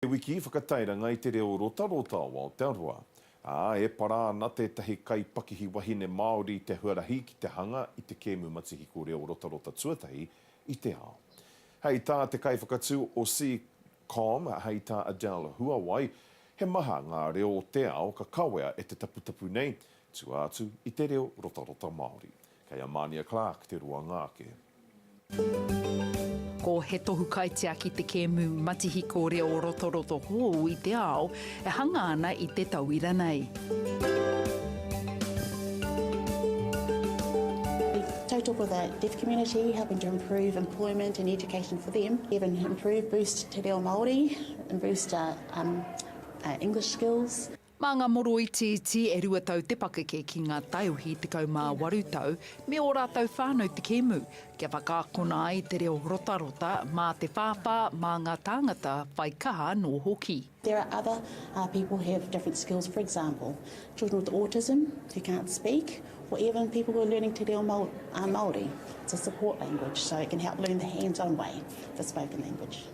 He wiki whakatairanga i te reo rotarota o Aotearoa, ā, e para ana tētahi kaipakihi wahine Māori i te huarahi ki te hanga i te kēmu matihiko reo rotarota tuatahi i te ao. Hei tā te kaiwhakatū o CCOM, hei tā Adele Huawai, he maha ngā reo o te ao ka kawea e te taputapu nei, tua atu i te reo rotarota Māori. Kei a Mania Clarke te roanga ake. Ko He Tohu Kaitiaki te kēmu matihiko reo rotoroto hou i te ao e hanga ana i te tauira nei. We tautoko the deaf community, helping to improve employment and education for them, even improve, boost te reo Māori, boost our um, uh, English skills. Mā ngā moroiti iti e rua tau te pakeke ki ngā taiohi tekau mā waru tau me ō rātou whānau te kēmu, kia whakaakona ai te reo rotarota mā te whāwhā, mā ngā tāngata whai kaha anō hoki. There are other people who have different skills, for example, children with autism who can't speak, or even people who are learning te reo Māori, it's a support language, so it can help learn the hands-on way the spoken language.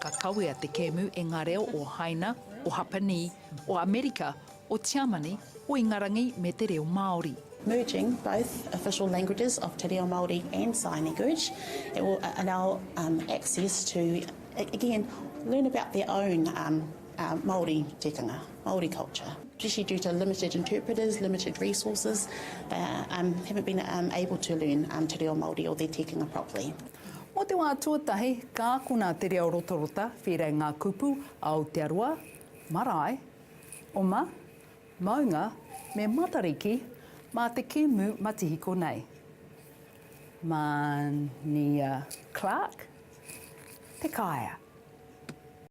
Ka kawea te kēmu e ngā reo o Haina, o Hapanī, o Amerika, o Tiamani, o Ingarangi me te reo Māori. Merging both official languages of te reo Māori and sign language, it will allow access to, again, learn about their own Māori tikanga, Māori culture. Especially due to limited interpreters, limited resources, they haven't been able to learn te reo Māori or their tikanga properly. Mō te wā tuatahi, ka akona te reo rotarota, whērei ngā kupu, Aotearoa, marae, oma, maunga, me Matariki, mā te kēmu matihiko nei. Mania Clarke, Te Kaea.